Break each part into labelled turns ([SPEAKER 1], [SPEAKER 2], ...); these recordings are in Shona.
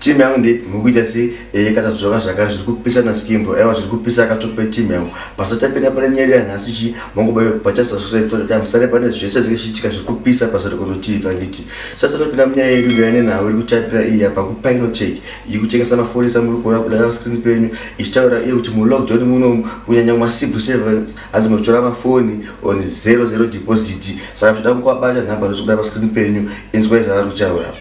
[SPEAKER 1] team yangu ndeipi mukuita
[SPEAKER 2] sei ee eh, katadzoka zvaka zviri kupisa naskimbo aiwa zviri kupisa akatope team yangu pasatapinda pane nyaya yanhasi chi mangoba yokubatasasreftotatam ah, sare pane zvese zvichiitika zviri kupisa pasati kunotivi anditi sasa topinda munyaya yedu yaine nhau iri kutapira iyi apa kupainotek iyi kutengesa maforisa muri kuona kudai vascreen penyu ichitaura iye kuti mulockdown muno kunyanya masivu seven hanzi muchitora mafoni on zero zero deposit saka zvoda kukuvabata nhamba ndochikudai vascreen penyu inzwai zvavari kutaura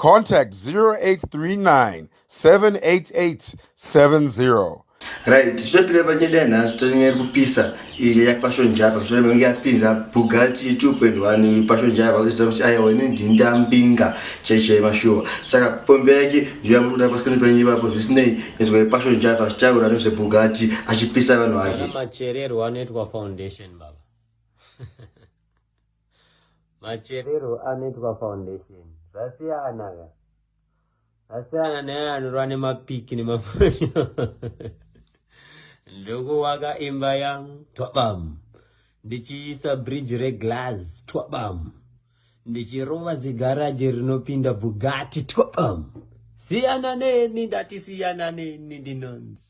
[SPEAKER 2] 0839 788 70
[SPEAKER 1] right tichapinda
[SPEAKER 2] panyeda yanhasi tonyaya iri kupisa iyi yapashonjava mushure mekunge yapinza bugati 2.1 pashonjava kutiziva kuti ayawa ine ndinda mbinga chaichai mashuwa saka pombe yake ndiyoyamuruda pasikani penyu ipapo zvisinei nezwa yepashonjava achitaura nezvebugati achipisa vanhu vake machererwo anoitwa
[SPEAKER 3] foundation baba Macherero anoitwa foundation zvasiyana ka asiyana naye anorwa nemapiki nemafonyo ndokuwaka imba yangu twabam ndichiisa bridge reglass twabam ndichirova zigaraji rinopinda bugati twabam siyana neni ndati siyana neni ndinonzi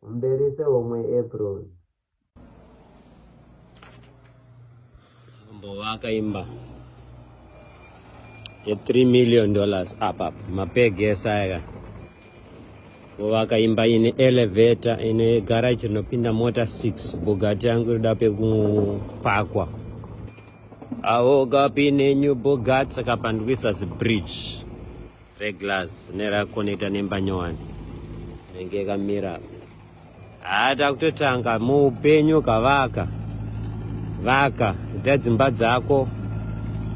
[SPEAKER 3] Kumberi sehomwe April. Mambo vakaimba ye 3 million dollars up up mapegesa aya vakaimba ine elevator ine garage rinopinda mota 6 bugati yangu inoda pekupakwa awo gapi nenyu bugati saka pandikuisa zibridge Reglass nera connector nemba nyowani inenge yakamira haa takutotanga muupenyu kavaka vaka ita dzimba dzako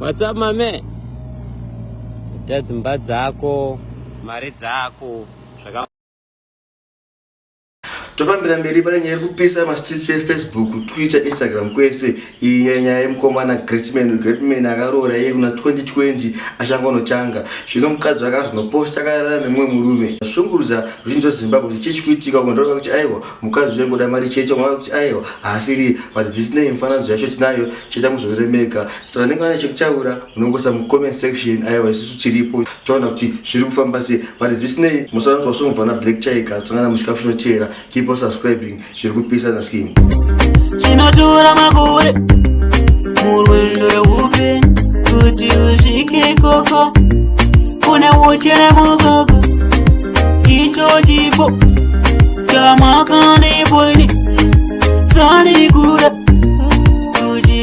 [SPEAKER 3] what's up mame ita dzimba dzako mari dzako zvaka
[SPEAKER 2] tofambira mberi pane nyaya iri kupisa mastreets efacebook twitter instagram kwese iyi nyaya yemukomana greatman greatman akaroora iye kuna 2020 achanga unotanga zvino mukadzi wake azvinoposta akarara nemumwe murume zvashungurudza ruzhinji rwezimbabwe kuti chii chikuitika uko ndoreva kuti aiwa mukadzi uye ngoda mari chete unoreva kuti aiwa haasiri but zvisinei mifananidzo yacho tinayo chete muzoremega so vanenge vane chekutaura munongoisa mucomment section aiwa isusu tiripo taona kuti zviri kufamba sei but zvisinei musanzwa song vana black tiger tsangana muchikafu chinoteera keep on subscribing zviri kupisa na skin chinotora
[SPEAKER 4] makore murwendo reupenyu kuti usvike ikoko kune uchere mukoko icho chipo chamakandipoini sanikura